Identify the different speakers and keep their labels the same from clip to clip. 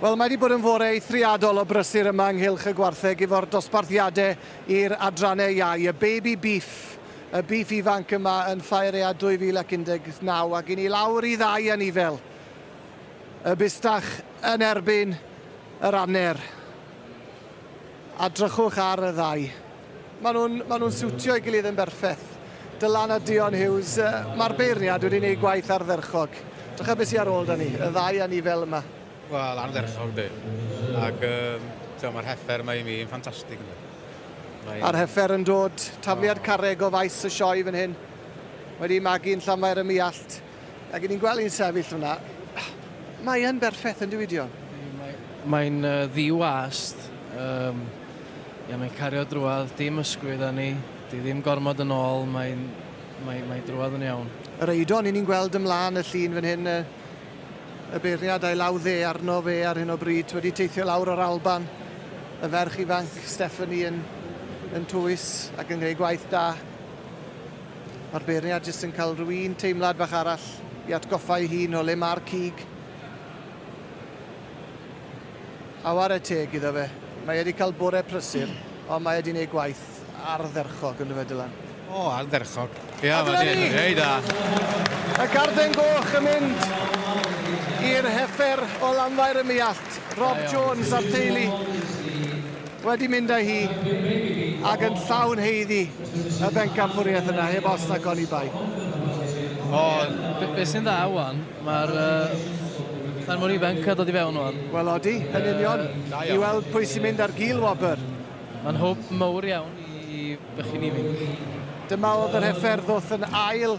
Speaker 1: Wel, mae wedi bod yn fore eithriadol o brysur yma ynghylch y gwartheg efo'r dosbarthiadau i'r adrannau iau. Y baby beef, y beef ifanc yma yn Ffaerea 2019 ac i ni lawr i ddau anifel. Y bustach yn erbyn yr aner. A drychwch ar y ddau. Maen nhw'n, maen nhw'n siwtio ei gilydd yn berffeth. Dylan a Dion Hughes, mae'r beirniad wedi gwneud gwaith ardderchog. Drycha beth sydd ar ôl da ni, y ddau a ni fel yma. Wel, ardderchog
Speaker 2: di. Ac um, mae'r heffer mae i mi yn ffantastig. Mae... A'r
Speaker 1: heffer yn dod, tafliad oh. carreg o faes y sioe fan hyn. Wedi magu'n llamaer y miallt. Ac ni'n gweld hi'n sefyll hwnna. Mae yn berffaith yn dyw Dion. Mae'n
Speaker 3: uh, ddiwast. Um, ia, mae'n cario drwad, dim ysgwyd â ni. Di ddim gormod yn ôl, mae'n mae, mae drwad yn iawn. Yr eidon ni'n gweld
Speaker 1: ymlaen y llun fan hyn, y beirniad a'i law dde arno fe ar hyn o bryd, wedi teithio lawr o'r Alban. Y ferch ifanc, Stephanie, yn, yn tŵis ac yn gwneud gwaith da. Ma'r beirniad jyst yn cael rhyw un teimlad bach arall i atgoffa ei hun o le ma'r cig. A ware teg iddo fe, mae e 'di cael bore prysur, ond mae e 'di neud gwaith ardderchog ynddo fe, Dylan. O, ardderchog.
Speaker 2: Ie, A dyna ni! Ei da. Y
Speaker 1: garden goch yn mynd i'r heffer o Lanfair y Muallt, Rob Jones a'r teulu. wedi mynd â hi ac yn llawn haeddu y bencampwriaeth yna heb os nac oni bai. O, be,
Speaker 3: be sy'n dda wan, mae'r uh, rhan mor ifanc a dod i fewn wan. Wel odi, yn union,
Speaker 1: uh, i weld pwy sy'n mynd ar gil wobr. Mae'n hwb
Speaker 3: mawr iawn i bychyn ifanc. Dyma oedd yr
Speaker 1: heffer ddwth yn ail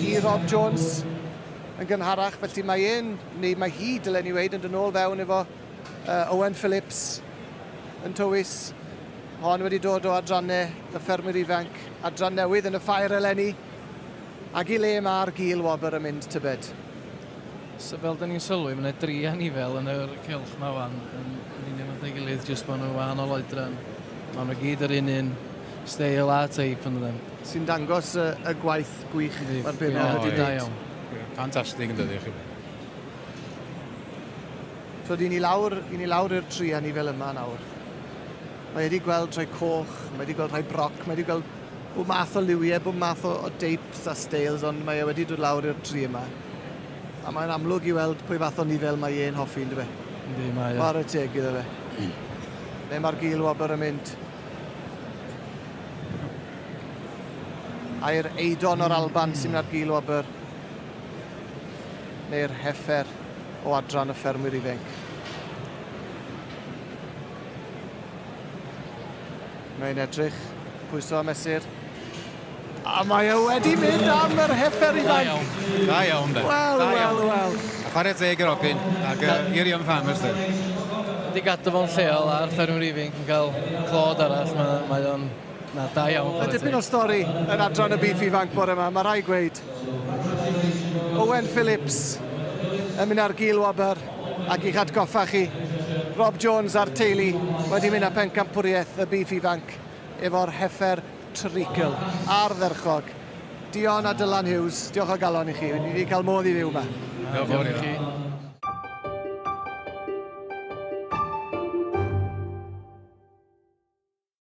Speaker 1: i Rob Jones yn gynharach, felly mae e'n, neu mae hi, dylen ni weid, yn dyn ôl fewn efo Owen Phillips, yn Towys, hon wedi dod o adrannau y ffermwyr ifanc, adran newydd yn y ffair eleni, ag i le ma'r gul wobr yn mynd tybed? So
Speaker 3: fel dyn ni'n sylwi, mae yna dri anifail yn yr cylch ma wan, yn union fatha ei gilydd, jyst bod nhw'n wahanol oedran. Mae nhw gyd yr un un steil a teip yn dydyn. Sy'n dangos
Speaker 1: y gwaith gwych mae'r bennod wedi neud.
Speaker 3: Fantastig yn
Speaker 2: dydi?
Speaker 1: Twyd, i ni lawr, i ni lawr i'r tri a ni fel yma nawr. Mae wedi gweld rhai coch, mae wedi gweld rhai broc, mae wedi gweld bob math o liwiau, bob math o, o deips a steils, ond mae e wedi dod lawr i'r tri yma. A mae'n amlwg i weld pwy fath o nifel mae e'n hoffi, yn dyfa? Ynddi, mae e. Mae'r y
Speaker 3: teg iddo fe.
Speaker 1: Mm. Le mae'r gil wobr yn mynd? A'r eidon o'r Alban sy'n mynd ar gil wobr. neu'r heffer o adran y ffermwyr ifainc. Mae'n edrych, pwyso a mesur. A mae e wedi mynd am yr heffer i Da iawn. Da iawn, de.
Speaker 2: Wel, wel, wel.
Speaker 1: A chwarae teg
Speaker 2: yr ogyn, ac uh, i'r Young Farmers, de. Ydy gadw
Speaker 3: fo'n lleol a'r ffermwr ifainc yn cael clod arall, mae, mae o'n Na, da iawn. Mae dipyn o stori
Speaker 1: yn adran y byd ifanc bore yma, mae rhai gweud. Owen Phillips yn mynd ar gil wobr ac i'ch atgoffa chi, Rob Jones a'r teulu wedi mynd â phencampwriaeth y byd ifanc efo'r heffer treigl ardderchog. Dion a Dylan
Speaker 2: Hughes,
Speaker 1: diolch o
Speaker 2: galon
Speaker 1: i chi, ni wedi
Speaker 2: cael
Speaker 1: modd i fyw yma. Diolch yn fawr i
Speaker 2: chi.